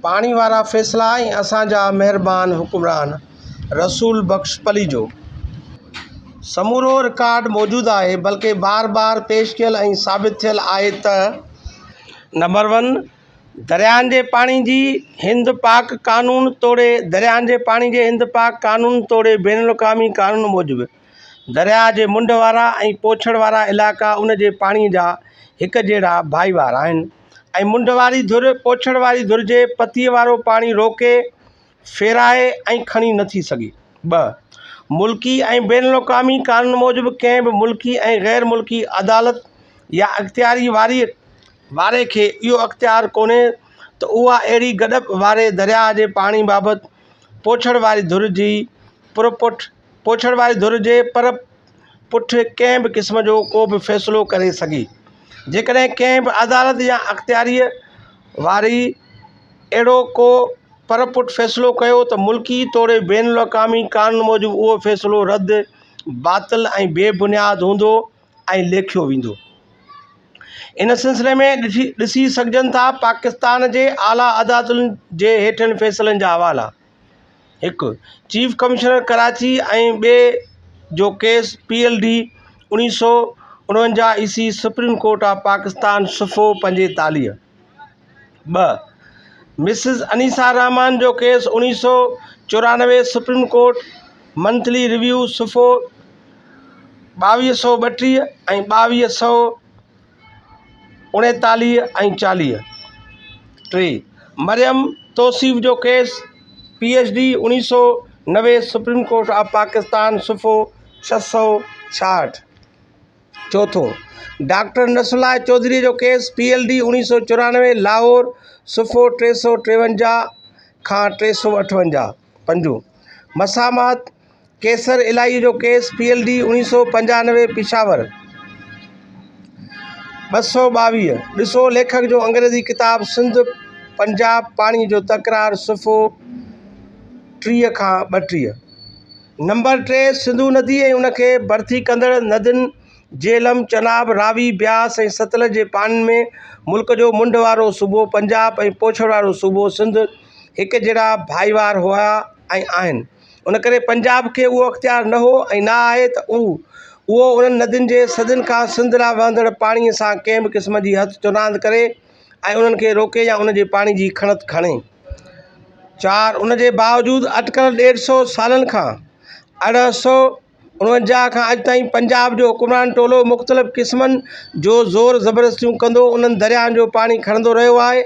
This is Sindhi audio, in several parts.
پاڻي وارا فيصلا ۽ اسان جا مهربان حڪمران رسول بخش پليجو سمورو رڪارڊ موجود آهي بلڪه بار بار پيش ڪيل ۽ ثابت ٿيل آهي ته نمبر ون درياهن جي پاڻي جي هند پاڪ قانون توڙي درياهن جي پاڻي جي هند پاڪ قانون توڙي بين الاقوامي قانون موجب درياهه جي منڍ وارا ۽ پوڇڙ وارا علائقا ان جي پاڻي جا هڪ جهڙا ڀائيوار آهن ۽ منڍ واري ڌر پوڇڙ واري ڌر جي پتيء وارو پاڻي روڪي، ڦيرائي ۽ کڻي نه ٿي سگهي. ٻه ملڪي ۽ بين الاقوامي قانون موجب ڪنهن به ملڪي ۽ غير ملڪي عدالت يا اختياري واري واري کي اهو اختيار ڪونهي ته اها اهڙي گڏپ واري درياهه جي پاڻي بابت پوڇڙ واري ڌر جي پرپٺ پڇڻ واري ڌر جي پر پٺ ڪنهن به قسم جو ڪو به فيصلو ڪري سگهي. جيڪڏهن ڪنهن به عدالت يا اختياريء واري اهڙو ڪو پر پٺ فيصلو ڪيو ته ملڪي توڙي بين الاقوامي قانون موجب اهو فيصلو رد، باطل ۽ بي بنياد هوندو ۽ ليکيو ويندو. ان سلسلي ۾ ڏسي سگهجن ٿا پاڪستان جي اعليٰ عدالتن جي هيٺين فيصلن جا حوالا. هڪ چيف ڪمشنر ڪراچي ۽ ٻئي جو ڪيس پي ايل ڊي اڻيهه سؤ اڻونجاهه عيسوي سپريم ڪورٽ آف پاڪستان صفحو پنجيتاليهه ٻه مسز انيسا رحمان جو ڪيس اڻيهه سؤ چورانوي سپريم ڪورٽ منٿلي ريويو صفحو ٻاويهه سؤ ٻٽيهه ۽ ٻاويهه سؤ اڻيتاليهه ۽ چاليهه، ٽي، مريم توصيف جو ڪيس، پي ايڇ ڊي، اڻيهه سؤ نوي، سپريم ڪورٽ آف پاڪستان، صفحو ڇهه سؤ ڇاهٺ، چوٿون، ڊاڪٽر نصرالله چوڌري جو ڪيس، پي ايل ڊي، اڻيهه سؤ چورانوي، لاهور، صفحو ٽي سؤ ٽيونجاهه کان ٽي سؤ اٺونجاهه، پنجون، مسامحت، قيصر الاهيء جو ڪيس پي ايل ڊي اوڻيھ سؤ پنجانوي پشاور ٻه سؤ ٻاويھ ڏسو ليکڪ جو انگريزي ڪتاب سنڌ پنجاب پاڻي جو تڪرار صفحو ٽيھ کان ٻٽيھ نمبر ٽي سنڌو ندي ۽ ان کي ڀرتي ڪندڙ ندين جهلم چناب راوي بياس ۽ ستلج جي پاڻين ۾ ملڪ جو منڍ وارو صوبو پنجاب ۽ پوڇڙ وارو صوبو سنڌ هڪجهڙا ڀائيوار هئا ۽ آهن ان ڪري پنجاب کي اهو اختيار نه هو ۽ نه آهي ته هو اهو انهن ندين جي صدين کان سنڌ ڏانهن وهندڙ پاڻي سان ڪنهن به قسم جي هٿ چوراند ڪري ۽ انهن کي روڪي يا ان جي پاڻي جي کڻت کڻي. چار ان جي باوجود اٽڪل ڏيڍ سئو سالن کان اڙهه سئو اڻونجاهه کان اڄ تائين پنجاب جو حڪمران ٽولو مختلف قسمن جو زور زبردستيون ڪندو انهن درياهن جو پاڻي کڻندو رهيو آهي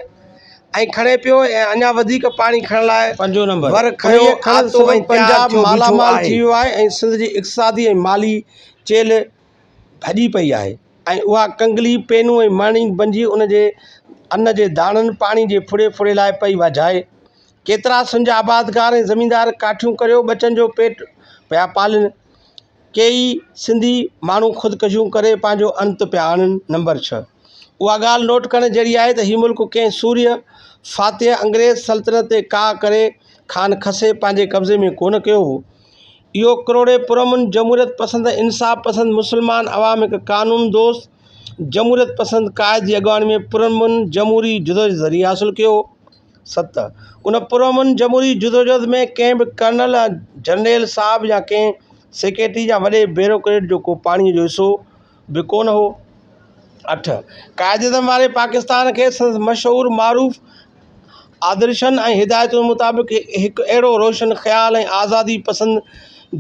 ۽ کڻي پيو ۽ اڃا وڌيڪ پاڻي کڻڻ لاء ور کڻي آتو ۽ تيار ٿيو بيٺو آهي. ۽ سنڌ جي اقتصادي ۽ مالي چيلهه ڀڄي پئي آهي ۽ اها ڪنگلي، پينو ۽ مڻي بنجي ان جي ان جي داڻن پاڻي جي ڦڙي ڦڙي لاء پئي واجهائي. ڪيترا سنج آبادگار ۽ زميندار ڪاٺيون ڪريو ٻچن جو پيٽ پيا پالن، ڪيئي سنڌي ماڻهو خودڪشيون ڪري پنهنجو انت پيا آڻن نمبر ڇهه اها ڳالهه نوٽ ڪرڻ جهڙي آهي ته هي ملڪ ڪنهن سورهيه فاتح انگريز سلطنت تي ڪاهه ڪري خان کسي پنهنجي قبضي ۾ ڪونه ڪيو هو اهو ڪروڙين پرامن جمهوريت پسند انصاف پسند مسلمان عوام هڪ قانون دوست جمهوريت پسند قائد جي اڳواڻي ۾ پرامن جمهوري جدوجهد ذريعي حاصل ڪيو هو ست، ان پرامن جمهوري جدوجهد ۾ ڪنهن به ڪرنل يا جرنيل صاحب يا ڪنهن سيڪريٽري يا وڏي بيروڪريٽ جو ڪو پاڻيء جو حصو به ڪونه هو. اٺ، قائداعظم واري پاڪستان کي سندس مشهور معروف آدرشن ۽ هدايتن مطابق هڪ اهڙو روشن خيال ۽ آزادي پسند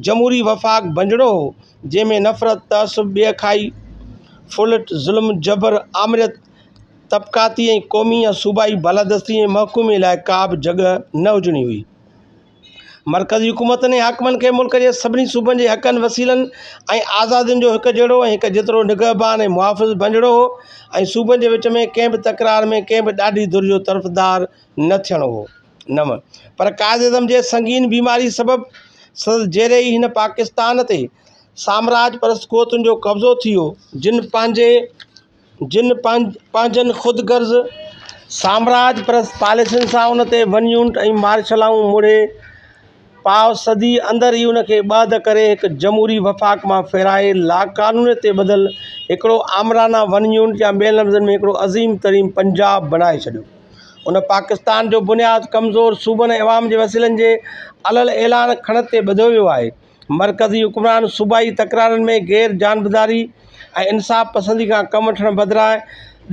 جمهوري وفاق بنجڻو هو، جنهن ۾ نفرت، تعصب، ٻيکائي، ڦرلٽ، ظلم، جبر، آمريت، طبقاتي ۽ قومي يا صوبائي بالادستي ۽ محڪومي لاء ڪا به جڳھ نه هجڻي هئي. مرڪزي حڪومتن ۽ حاڪمن کي ملڪ جي سڀني صوبن جي حقن، وسيلن ۽ آزادين جو هڪ جهڙو ۽ هڪ جيترو نگهبان ۽ محافظ بنجڻو هو ۽ صوبن جي وچ ۾ ڪنهن به تڪرار ۾ ڪنهن به ڏاڍي ڌر جو طرفدار نه ٿيڻو هو. نو. پر قائداعظم جي سنگين بيماري سبب سندس جيري ئي هن پاڪستان تي سامراج پرست قوتن جو قبضو ٿي ويو، جن پنهنجي. جن پنهنجن خود غرض سامراج پرست پاليسين سان ان تي ون يونٽ ۽ مارشلائون مڙهي پاء صدي اندر ئي ان کي ٻهڌ ڪري هڪ جمهوري وفاق مان ڦيرائي لاقانونيت تي ٻڌل هڪڙو آمرانه ون يونٽ يا ٻين لفظن ۾ هڪڙو عظيم ترين پنجاب بڻائي ڇڏيو. ان پاڪستان جو بنياد ڪمزور صوبن ۽ عوام جي وسيلن جي علل اعلان کڻت تي ٻڌو ويو آهي. مرڪزي حڪمران صوبائي تڪرارن ۾ غير جانبداري ۽ انصاف پسندي کان ڪم وٺڻ بدران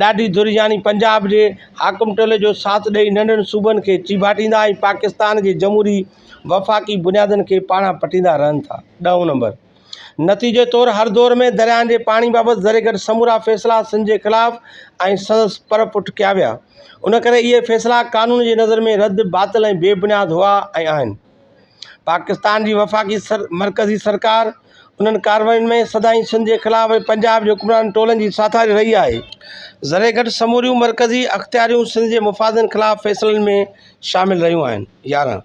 ڏاڍي ڌر يعني پنجاب جي حاڪم ٽولي جو ساٿ ڏئي ننڍن صوبن کي چيڀاٽيندا ۽ پاڪستان جي جمهوري وفاقي بنيادن کي پاڙان پٽيندا رهن ٿا. ڏهون نمبر نتيجي طور هر دور ۾ درياهن جي پاڻي بابت زريگڏ سمورا فيصلا سنڌ جي خلاف ۽ سندس پر پٺ ڪيا ويا. ان ڪري اهي فيصلا قانون جي نظر ۾ رد، باطل ۽ بي بنياد هئا ۽ آهن. پاڪستان جي وفاقي مرڪزي سرڪار انهن ڪاررواين ۾ سدائين سنڌ جي خلاف ۽ پنجاب جي حڪمران ٽولن جي ساٿاري رهي آهي. ذري گهٽ سموريون مرڪزي اختياريون سنڌ جي مفادن خلاف فيصلن ۾ شامل رهيون آهن. يارهن.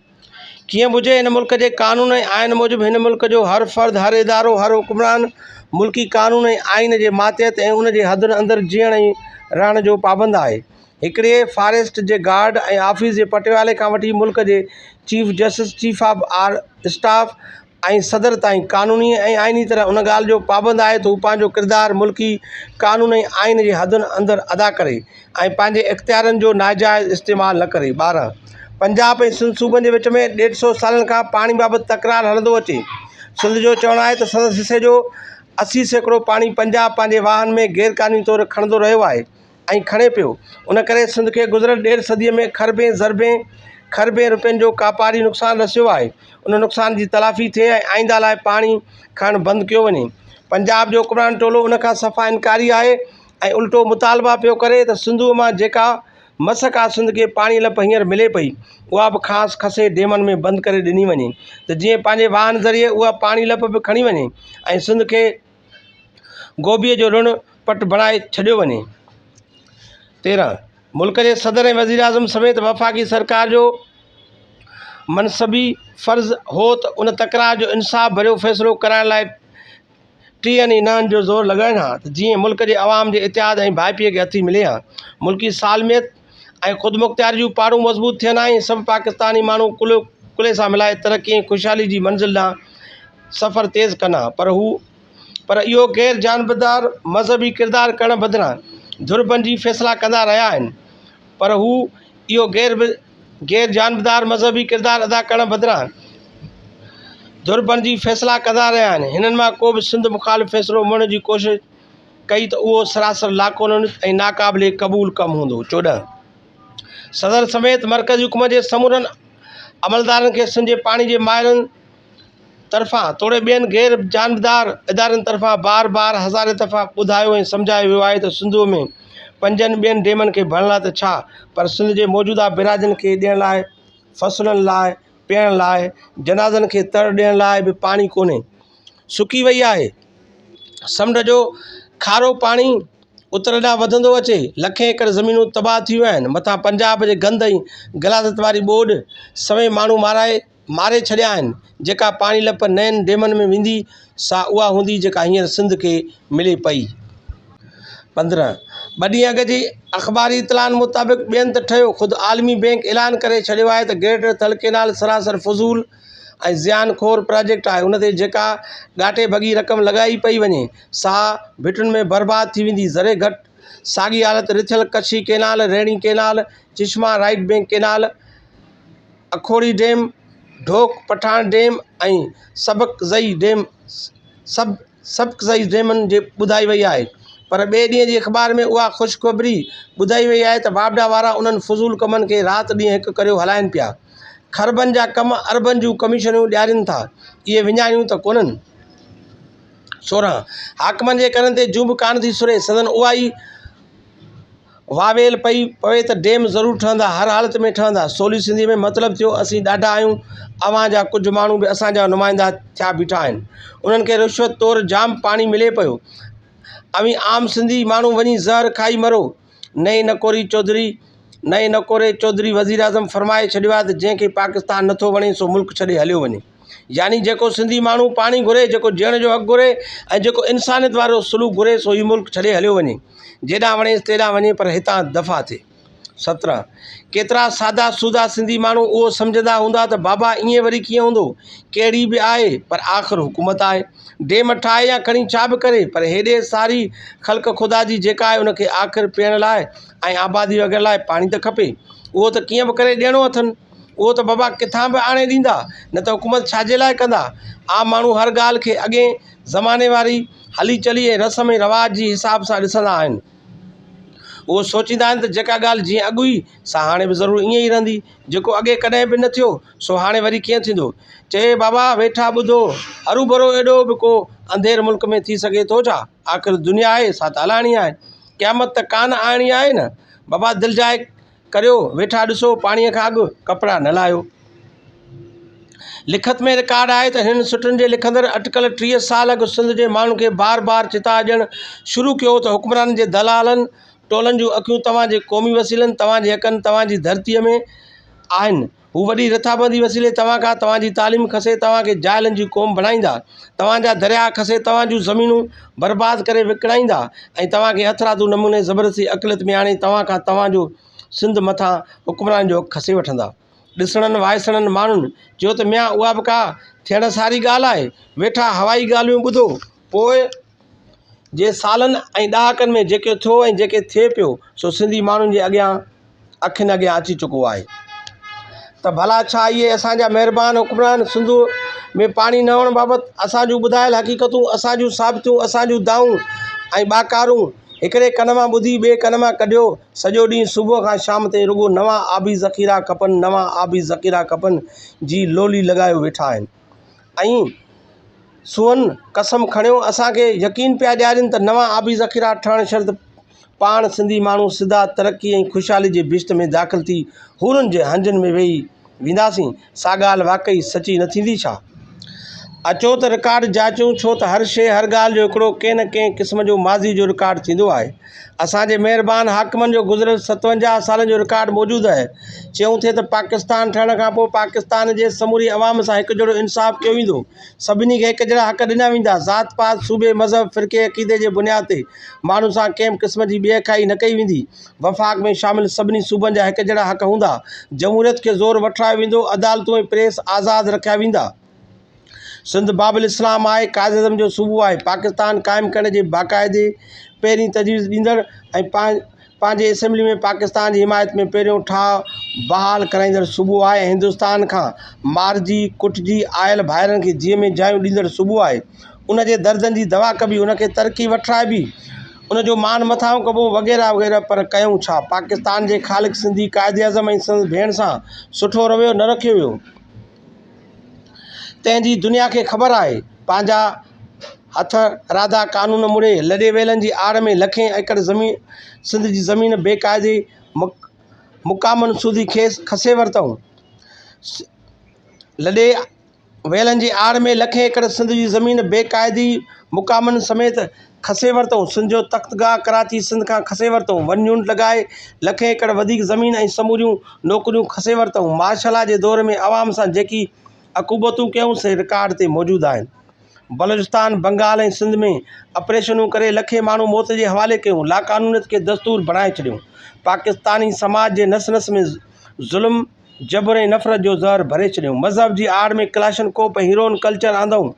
ڪيئن به هجي، هن ملڪ جي قانون ۽ آئين موجب هن ملڪ جو هر فرد، هر ادارو، هر حڪمران ملڪي قانون ۽ آئين جي ماتحت ۽ ان جي حدن اندر جيئڻ ۽ رهڻ جو پابند آهي. هڪڙي فاريسٽ جي گارڊ ۽ آفيس جي پٽيوالي کان وٺي ملڪ جي چيف جسٽس، چيف آف آر اسٽاف ۽ صدر تائين قانوني ۽ آئيني طرح ان ڳالهه جو پابند آهي ته هو پنهنجو ڪردار ملڪي قانون ۽ آئين جي حدن اندر ادا ڪري ۽ پنهنجي اختيارن جو ناجائز استعمال نه ڪري. ٻارهن. پنجاب ۽ سنڌ صوبن جي وچ ۾ ڏيڍ سو سالن کان پاڻي بابت تڪرار هلندو اچي. سنڌ جو چوڻ آهي ته سندس حصي جو اسي سيڪڙو پاڻي پنجاب پنهنجي واهن ۾ غيرقانوني طور کڻندو رهيو آهي. ۽ کڻي پيو. ان ڪري سنڌ کي گذريل ڏيڍ صديء ۾ کربين ضربين کربين رپين جو ڪاپاري نقصان رسيو آهي. ان نقصان جي تلافي ٿئي ۽ آئنده لاء پاڻي کڻڻ بند ڪيو وڃي. پنجاب جو حڪمران ٽولو ان کان صفا انڪاري آهي ۽ الٽو مطالبا پيو ڪري ته سنڌوء مان جيڪا مس ڪا سنڌ کي پاڻي لپ هينئر ملي پئي، اها به کانئس کسي ڊيمن ۾ بند ڪري ڏني وڃي ته جيئن پنهنجي واهن ذريعي اها پاڻي لپ به کڻي وڃي ۽ سنڌ کي گوڀيء جو رڻ پٽ بڻائي ڇڏيو وڃي. تيرهن، ملڪ جي صدر ۽ وزيراعظم سميت وفاقي سرڪار جو منصبي فرض هو ته ان تڪرار جو انصاف ڀريو فيصلو ڪرائڻ لاء ٽيهن ئي نهن جو زور لڳائين ها ته جيئن ملڪ جي عوام جي اتحاد ۽ ڀائپي کي هٿي ملي ها. ملڪي سالميت، ۽ خودمختياري جون پاڙون مضبوط ٿين ۽ سڀ پاڪستاني ماڻهو ڪلهو ڪلهي سان ملائي ترقي ۽ خوشحالي جي منزل ڏانهن سفر تيز ڪن ها پر هو پر اهو غير جانبدار مذهبي ڪردار ڪرڻ بدران ڌر بنجي فيصلا ڪندا رهيا آهن پر هو اهو غير غير جانبدار مذهبي ڪردار ادا ڪرڻ بدران ڌر بنجي فيصلا ڪندا رهيا آهن هنن مان ڪو به سنڌ مخالف فيصلو مڙهڻ جي ڪوشش ڪئي ته اهو سراسر لاقانوني ۽ ناقابل قبول ڪم هوندو. چوڏهن. صدر سميت مرڪزي حڪومت جي سمورن عملدارن کي سنڌ جي پاڻي جي ماهرن طرفان توڙي ٻين غير جانبدار ادارن طرفان بار بار هزارين دفعا ٻڌايو ۽ سمجهايو ويو آهي ته سنڌوء ۾ پنجن ٻين ڊيمن کي ڀرڻ لاء ته ڇا پر سنڌ جي موجوده بيراجن کي ڏيڻ لاء فصلن لاء پيئڻ لاء جنازن کي تڙ ڏيڻ لاء به پاڻي ڪونهي. سڪي وئي آهي. سمنڊ جو کارو پاڻي اتر ڏانهن وڌندو اچي، لکين ايڪڙ زمينون تباهه ٿي ويون آهن، مٿان پنجاب جي گند ۽ غلاظت واري ٻوڏ سوين ماڻهو مارائي ماري ڇڏيا آهن، جيڪا پاڻي لپ نين ڊيمن ۾ ويندي سا اها هوندي جيڪا هينئر سنڌ کي ملي پئي. پندرهن، ٻه ڏينهن اڳ جي اخباري اطلاعن مطابق ٻين ته ٺهيو، خود عالمي بينڪ اعلان ڪري ڇڏيو آهي ته گريٽر ٿل ڪينال سراسر فضول، ۽ زيان خور پراجيڪٽ آهي ان تي جيڪا ڳاٽي ڀڳي رقم لڳائي پئي وڃي سا ڀٽن ۾ برباد ٿي ويندي ذري گهٽ ساڳي حالت رٿيل Kachhi canal Rainee canal Chashma right bank canal Akhori dam Dhok Pathan dam ۽ Sabakzai dam سڀ سبق سائيز ڊيمن جي ٻڌائي وئي آهي پر ٻئي ڏينهن جي اخبار ۾ اها خوشخبري ٻڌائي وئي آهي ته واپڊا وارا انهن فضول ڪمن کي رات ڏينهن هڪ ڪريو هلائين پيا کربن جا ڪم اربن جون ڪميشنيون ڏيارين ٿا اهي وڃاڻيون ته ڪونهن سورهن حاڪمن جي ڪنن تي جون به ڪانه ٿي سري سندن اها ئي واويل پئي پوي ته ڊيم ضرور ٺهندا هر حالت ۾ ٺهندا سولي سنڌي ۾ مطلب ٿيو اسين ڏاڍا آهيون اوهان جا ڪجهه ماڻهو به اسان جا نمائندا ٿيا بيٺا آهن انهن کي رشوت طور جام پاڻي ملي پيو اوهين عام سنڌي ماڻهو وڃي زهر کائي مرو نئين نڪوري چوڌري نئين نڪوري چوڌري وزيراعظم فرمائي ڇڏيو آهي ته جنهن کي پاڪستان نٿو وڻي سو ملڪ ڇڏي هليو وڃي يعني جيڪو سنڌي ماڻهو پاڻي گهري جيڪو جيئڻ جو حق گهري ۽ جيڪو انسانيت وارو سلوڪ گهري سو هي ملڪ ڇڏي هليو وڃي جيڏانهن وڻيس تيڏانهن وڃي پر هتان دفع ٿئي سترهن ڪيترا سادا سودا سنڌي ماڻهو اهو سمجهندا هوندا ته بابا ائين وري ڪيئن هوندو ڪهڙي به آهي پر آخر حڪومت آهي ڊيم ٺاهي يا کڻي ڇا به ڪري پر هيڏي ساري خلق خدا جي جيڪا آهي ان کي آخر پيئڻ لاء ۽ آبادي وغيره لاء پاڻي ته کپي اهو ته ڪيئن به ڪري ڏيڻو اٿن اهو ته بابا ڪٿان به آڻي ڏيندا، نه ته حڪومت ڇا جي لاء ڪندا؟ عام ماڻهو هر ڳالهه کي اڳئين زماني واري هلي چلي ۽ رسم ۽ رواج جي حساب سان ڏسندا آهن. اهو سوچيندا آهن ته جيڪا ڳالهه جيئن اڳ هئي، سا هاڻي به ضرور ائين ئي رهندي. جيڪو اڳي ڪڏهن به نه ٿيو، سو هاڻي وري ڪيئن ٿيندو؟ چي بابا ويٺا ٻڌو، هروڀرو ايڏو به ڪو انڌير ملڪ ۾ ٿي سگهي ٿو ڇا؟ آخر دنيا آهي، سا ته هلائڻي آهي. قيامت ته ڪانه آڻڻي آهي نه؟ بابا دلجاء ڪريو ويٺا ڏسو پاڻيء کان اڳ ڪپڙا نه لاهيو. لکت ۾ رڪارڊ آهي ته هنن سٽن جي لکندڙ اٽڪل ٽيهه سال اڳ سنڌ جي ماڻهن کي بار بار چتاء ڏيڻ شروع ڪيو هو ته حڪمرانن جي دلالن ٽولن جون اکيون توهان جي قومي وسيلن، توهان جي حقن، توهان جي ڌرتيء ۾ آهن. هو وڏي رٿابندي وسيلي توهان کان توهان جي تعليم کسي توهان کي جاهلن جي قوم بڻائيندا توهان جا درياهه کسي توهان جون زمينون برباد ڪري وڪڻائيندا ۽ توهان کي هٿرادو نموني زبردستي اقليت ۾ آڻي توهان کان توهان جو سنڌ مٿان حڪمراني جو حق کسي وٺندا ڏسڻن وائسڻن ماڻهن چيو ته ميان اها به ڪا ٿيڻ ساري ڳالهه آهي ويٺا هوائي ڳالهيون ٻڌو پوء جي سالن ۽ ڏهاڪن ۾ جيڪي ٿيو ۽ جيڪي ٿئي پيو سو سنڌي ماڻهن جي اڳيان اکين اڳيان اچي چڪو آهي ته ڀلا ڇا اهي اسانجا مهربان حڪمران سنڌو ۾ پاڻي نه هئڻ بابت اسانجون ٻڌايل حقيقتون اسانجون ثابتون اسانجون دانهون ۽ ٻاڪارون هڪڙي ڪن مان ٻڌي ٻئي ڪن مان ڪڍيو سڄو ڏينهن صبح کان شام تائين رڳو نوان آبي ذخيرا کپن نوان آبي ذخيرا کپن جي لولي لڳايو ويٺا آهن ۽ سون قسم کڻيو اسان کي يقين پيا ڏيارين ته نوان آبي ذخيرا ٺهڻ شرط پاڻ سنڌي ماڻهو سڌا ترقي ۽ خوشحالي جي بهشت ۾ داخل ٿي حورن جي هنجن ۾ وهي وينداسين سا ڳالهه واقعي سچي نه ٿيندي ڇا؟ اچو ته رڪارڊ جاچيون ڇو ته هر شيء هر ڳالهه جو هڪڙو ڪنهن نه ڪنهن قسم جو ماضي جو رڪارڊ ٿيندو آهي اسان جي مهربان حاڪمن جو گذريل ستونجاهه سالن جو رڪارڊ موجود اهي. چيون ٿي ته پاڪستان ٺهڻ کان پوء پاڪستان جي سموري عوام سان هڪ جهڙو انصاف ڪيو ويندو. سڀني کي هڪ جهڙا حق ڏنا ويندا. ذات پات، صوبي، مذهب، فرقي، عقيدي جي بنياد تي ماڻهن سان ڪنهن به قسم جي ٻيهکائي نه ڪئي ويندي. وفاق ۾ شامل سڀني صوبن جا هڪ جهڙا حق هوندا. جمهوريت کي زور وٺرايو ويندو. عدالتون ۽ پريس آزاد رکيا ويندا. سنڌ باب الاسلام آء قائداعظم جو صوبو آهي. پاڪستان قائم ڪرڻ جي باقاعدي پهرين تجويز ڏيندڙ ۽ پنهنجي اسيمبلي ۾ پاڪستان جي حمايت ۾ پهريون ٺاهه بحال ڪرائيندڙ صوبو آهي ۽ هندستان کان مارجي ڪٽجي آيل ڀائرن کي جيئي ۾ جايون ڏيندڙ صوبو آهي. ان جي دردن جي دوا ڪبي، ان کي ترقي وٺرائبي، ان جو مان مٿانهون ڪبو وغيره وغيره پر ڪيون ڇا؟ پاڪستان جي خالق سنڌي قائداعظم ۽ سندس ڀيڻ سان سٺو رويو نه رکيو ويو. تنهن جي دنيا کي خبر آهي. پنهنجا هٿ راڌا قانون مڙهي لڏي ويلن جي آڙ ۾ لکين ايڪڙ زمين سنڌ جي زمين بي قاعدي مقامن سوڌي کيس کسي ورتائون. لڏي ويلن جي آڙ ۾ لکين ايڪڙ سنڌ جي زمين بي قاعدي مقامن سميت کسي ورتئون، سنڌ جو تخت گاهه ڪراچي سنڌ کان کسي ورتئون، ون يونٽ لڳائي لکين ايڪڙ وڌيڪ زمين ۽ سموريون نوڪريون کسي ورتئون، مارشل لا جي دور ۾ عوام سان جيڪي عقوبتون ڪيائون سي رڪارڊ تي موجود آهن، بلوچستان، بنگال ۽ سنڌ ۾ آپريشنون ڪري لکين ماڻهو موت جي حوالي ڪيون، لاقانونيت کي دستور بڻائي ڇڏيون، پاڪستاني سماج جي نس نس ۾ ظلم، جبر ۽ نفرت جو زهر ڀري ڇڏيائون. مذهب جي آڙ ۾ ڪلاشن ڪوپ ۽ هيروئن ڪلچر آندائون.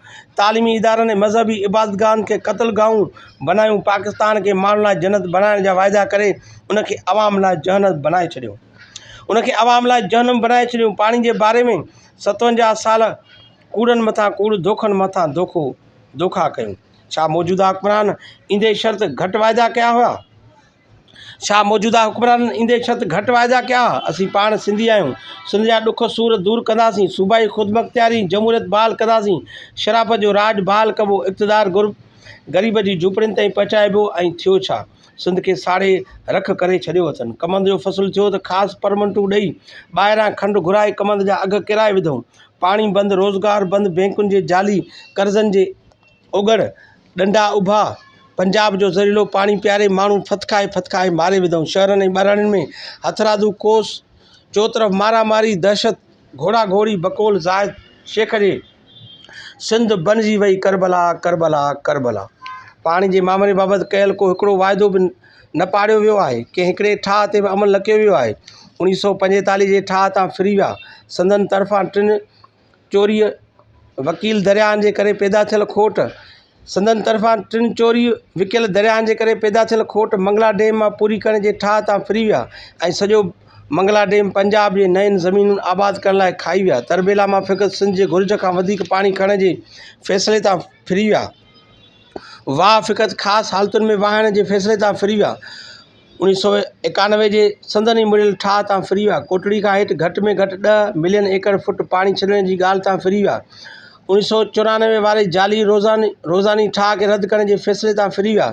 تعليمي ادارن ۽ مذهبي عبادت گاهن کي قتل گاهون بنايون. پاڪستان کي ماڻهن لاء جنت بنائڻ جا واعدا ڪري ان کي عوام لاء جهنم بنائي ڇڏيو. ان کي عوام لاء جهنم بنائي ڇڏيون. پاڻي جي باري ۾ ستونجاهه سال ڪوڙن مٿان ڪوڙ، ڌوڪن مٿان ڌوڪو، ڌوڪا ڪيون. ڇا موجوده حڪمران ايندي شرط گهٽ واعدا ڪيا هيا؟ ڇا موجوده حڪمرانن ايندي ڇت گهٽ واعدا ڪيا ها؟ اسين پاڻ سنڌي آهيون، سنڌ جا ڏک سور دور ڪنداسين، صوبائي خودمختياري، جمهوريت بحال ڪنداسين، شرافت جو راڄ بحال ڪبو، اقتدار غريب جي جهوپڙين تائين پهچائبو ۽ ٿيو ڇا؟ سنڌ کي ساڙي رک ڪري ڇڏيو اٿن. ڪمند جو فصل ٿيو ته خاص پرمنٽون ڏئي، ٻاهران کنڊ گهرائي ڪمند جا اگهه ڪيرائي وڌئون. پاڻي بند، روزگار بند، بينڪن جي جعلي قرضن جي اوڳڙ، ڏنڊا اڀا، پنجاب جو زھريلو پاڻي پياري، ماڻھو ڦٿڪائي ڦٿڪائي ماري وڌئون، شھرن ۽ ٻهراڙين ۾ ھٿرادو ڪوس، چوطرف مارا ماري، دھشت، گھوڙا گھوڙي، بقول زاھد شيخ جي، سنڌ بنجي وئي ڪربلا، ڪربلا، ڪربلا. پاڻي جي مامري بابت ڪيل ڪو ھڪڙو واعدو به نه پاڙيو ويو آھي، ڪنھن ھڪڙي ٺاھه تي به عمل نه ڪيو ويو آھي، اوڻيھ سؤ پنجيتاليھ جي ٺاھه تان ڦري ويا، سندن طرفان ٽن چوريء وڪيل درياهن جي ڪري پيدا ٿيل کوٽ، سندن طرفان ٽن چوريء وڪيل درياهن جي ڪري پيدا ٿيل کوٽ منگلا ڊيم مان پوري ڪرڻ جي ٺاهه تان ڦري ويا ۽ سڄو منگلا ڊيم پنجاب جي نين زمينون آباد ڪرڻ لاء کائي ويا. تربيلا مان فقط سنڌ جي گهرج کان وڌيڪ پاڻي کڻڻ جي فيصلي تان ڦري ويا. واهه فقط خاص حالتن ۾ واهڻ جي فيصلي تان ڦري ويا. انيس سؤ ايڪانوي جي سندن ئي مڙهيل ٺاهه تان ڦري ويا. ڪوٽڙي کان هيٺ گهٽ ۾ گهٽ ڏهه ملين ايڪڙ فوٽ پاڻي ڇڏڻ جي ڳالهه تان ڦري ويا. انيس سؤ چورانوي واري جعلي روزاني ٺاهه کي رد ڪرڻ جي فيصلي تان ڦري ويا.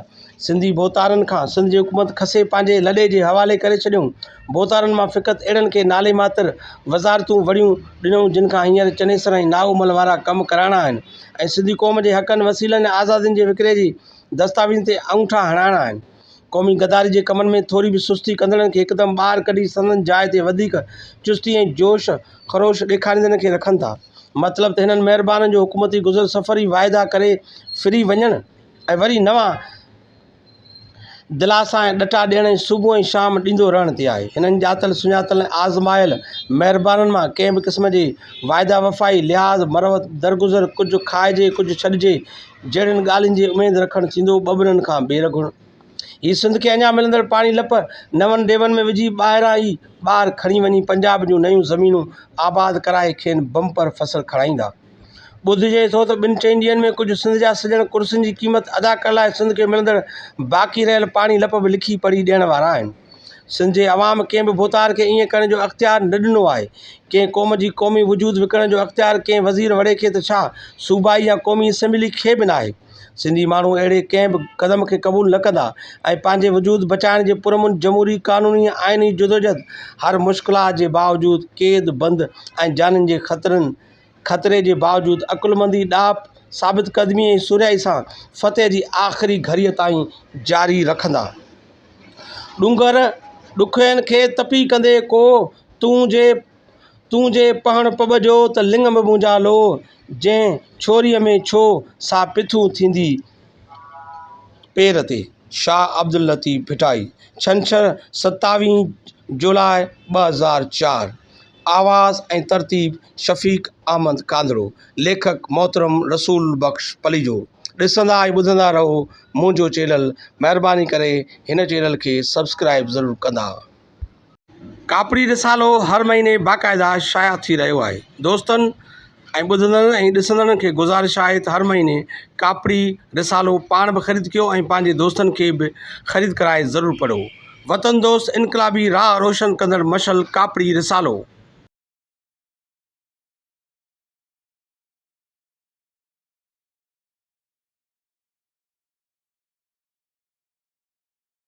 سنڌي ڀوتارن کان سنڌ جي حڪومت کسي پنهنجي لڏي جي حوالي ڪري ڇڏيائون. ڀوتارن مان فقط اهڙن کي نالي ماتر وزارتون وڙهيون ڏنائون جن کان هينئر چنيسر ۽ نائومل وارا ڪم ڪرائڻا آهن ۽ سنڌي قوم جي حقن، وسيلن ۽ آزادين جي وڪري جي دستاويزن تي آڱٺا هڻائڻا آهن. قومي غداري جي ڪمن ۾ ٿوري به سستي ڪندڙن کي هڪدم ٻاهر ڪڍي سندن جاء تي وڌيڪ چستي ۽ جوش خروش ڏيکاريندڙن کي رکن ٿا. مطلب ته هنن مهربانن جو حڪومتي گذر سفر ئي واعدا ڪري ڦري وڃڻ ۽ وري نوان دلاسا ۽ ڏٽا ڏيڻ ۽ صبح ۽ شام ڏيندو رهڻ تي آهي. هنن ڄاتل سڃاتل ۽ آزمايل مهربانن مان ڪنهن به قسم جي واعده وفائي، لحاظ، مروت، درگذر، ڪجهه کائجي ڪجهه ڇڏجي، جهڙين ڳالهين جي اميد رکڻ ٿيندو ٻٻرن کان ٻير گهڻ. هي سنڌ کي اڃا ملندڙ پاڻي لپ نون ديون ۾ وجهي ٻاهران ئي ٻار کڻي وڃي پنجاب جون نيون زمينون آباد ڪرائي کين بمپر فصل کڻائيندا. ٻڌجي ٿو ته ٻن چئن ڏينهن ۾ ڪجهه سنڌ جا سڄڻ ڪرسين جي قيمت ادا ڪرڻ لاء سنڌ کي ملندڙ باقي رهيل پاڻي لپ به لکي پڙهي ڏيڻ وارا آهن. سنڌ جي عوام ڪنهن به ڀوتار کي ائين ڪرڻ جو اختيار نه ڏنو آهي. ڪنهن قوم جي قومي وجود وڪڻڻ جو اختيار ڪنهن وزير وڙي کي ته ڇا صوبائي يا قومي اسيمبلي کي به ناهي. سنڌي ماڻهو اهڙي ڪنهن به قدم کي قبول نه ڪندا ۽ پنهنجي وجود بچائڻ جي پرامن جمهوري قانوني آئيني جدوجهد هر مشڪلات جي باوجود قيد بند ۽ جانين جي خطرن خطري جي باوجود عقلمندي، ڏاهپ، ثابت قدمي ۽ سرهائي سان فتح جي آخري گهڙيء تائين جاري رکندا. ڏونگر ڏکوين کي تپي ڪندي ڪو، تون جي تون جي پهڻ پٻ جو ته لڱ به منهنجا لو، جنهن ڇوريء ۾ ڇو، سا پٿون ٿيندي پير تي. شاهه عبداللطيف ڀٽائي، ڇنڇر، ستاويهه جولاء ٻه هزار چار، آواز ۽ ترتيب شفيق احمد ڪانڌڙو، ليکڪ محترم رسول بخش پليجو، ڏسندا ۽ ٻڌندا رهو منهنجو چينل، مهرباني ڪري هن چينل کي سبسڪرائيب ضرور ڪندا. ڪاپڙي رسالو هر مهيني باقاعده شايع ٿي رهيو آهي دوستن ۽ ٻڌندڙن ۽ ڏسندڙن کي گذارش آهي ته هر مهيني ڪاپڙي رسالو پاڻ به خريد ڪيو ۽ پنهنجي دوستن کي به خريد ڪرائي ضرور پڙهو وطن دوست انقلابي راهه روشن ڪندڙ مشعل ڪاپڙي رسالو.